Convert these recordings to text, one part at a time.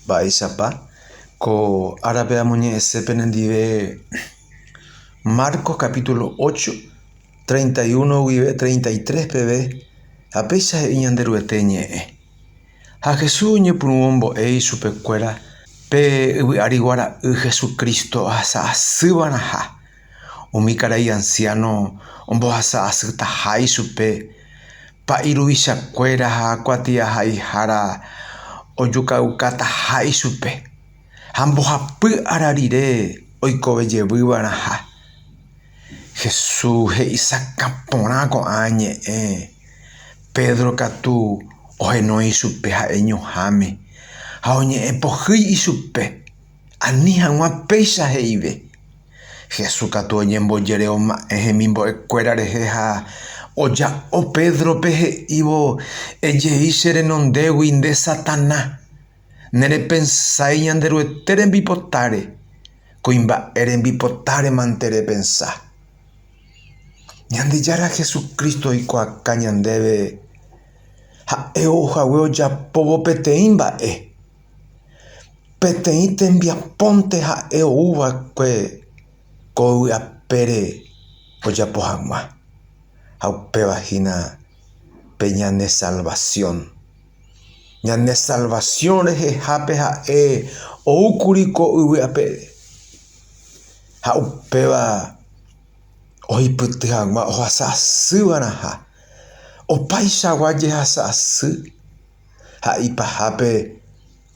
Mba'éichapa? Ko árape amoñe'ẽse penendive Marcos capítulo ocho, treinta y uno guive treinta y tres peve, ha péicha he'i Ñanderuete ñe'ẽ. Ha Jesús oñepyrũ ombo'e ichupekuéra pe yvy'ári guara'y Jesucristo ahasa asýva'erãha. Umi karai ansiáno ombohasa asytaha ichupe, pa'i ruvichakuéra ha kuatiahaihára ojukaukataha ichupe, ha mbohapy ára rire oikove jevy va'erãha. Jesús he'isakã porã ko'ã ñe'ẽ, Pedro katu ohenói ichupe ha'e ñuhãme, ha oñe'ẽ pohýi ichupe. Ani hag̃ua péicha he'ive. Jesús katu oñembojereoma'ẽ hemimbo'ekuéra rehe ha oja'o Pédrope he'ívo, Ejei che renondégui, nde Satana! Nerepensái Ñanderuete rembipotáre, kuimba'e rembipotáremante repensa. Ñandejára Jesucristo oikuaaka ñandéve ha'e ou hague ojapóvo peteĩ mba'e. Peteĩ tembiapónte ha'e ou va'ekue ko yvy apére ojapo hag̃ua, ha upéva hína pe ñane salvasión. Ñane salvasión rehehápe ha'e ou kuri ko yvy apére, ha upéva oipyty hag̃ua ohasa asy va'erãha. Opaichagua jehasa asy. ha ipahápe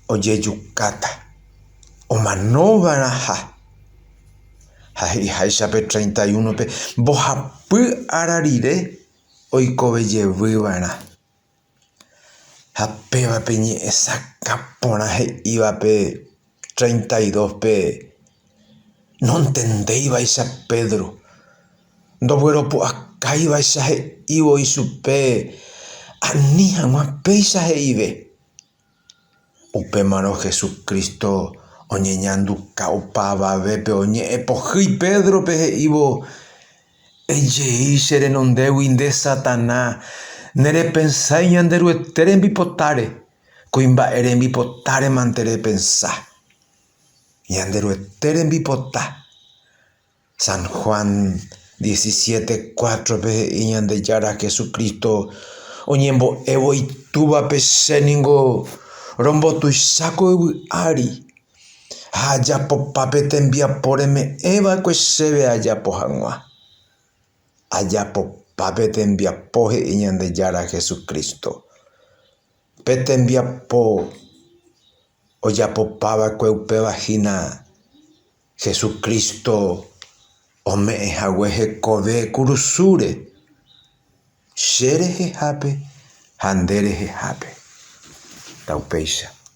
ojejukáta omanova'erãha. Ha he'iháicha pe treinta y uno-pe, mbohapy ára rire oikovejevýva'erã. Ha pévape ñe'ẽ sakã porã he'ívape. treinta y dóspe nontendéivaicha Pedro, ndogueropu'akáivaicha he'ívo ichupe ani hag̃ua péicha he'ive. Upémarõ Jesucristo oñeñanduka opavavépe oñe'ẽ pohýi Pédrope he'ívo, Ejei che renondégui nde Satanás, nerepensái Ñanderuete rembipotáre. Kuimba'e rembipotáremante repensa. Ñanderuete rembipota. San Juan diecisiete, cuátrope he'i Ñandejára Jesucristo oñembo'évo Itúvape, Che ningo rombotuicha ko yvy ári, ha ajapopa pe tembiapo reme'ẽ va'ekue chéve ajapo hag̃ua. Ajapopa pe tembiapo he'i Ñandejára Jesucristo. Pe tembiapo ojapopava'ekue upéva hína Jesucristo ome'ẽ hague hekove kurusúre, che rehehápe ha nde rehehápe. Taupéicha.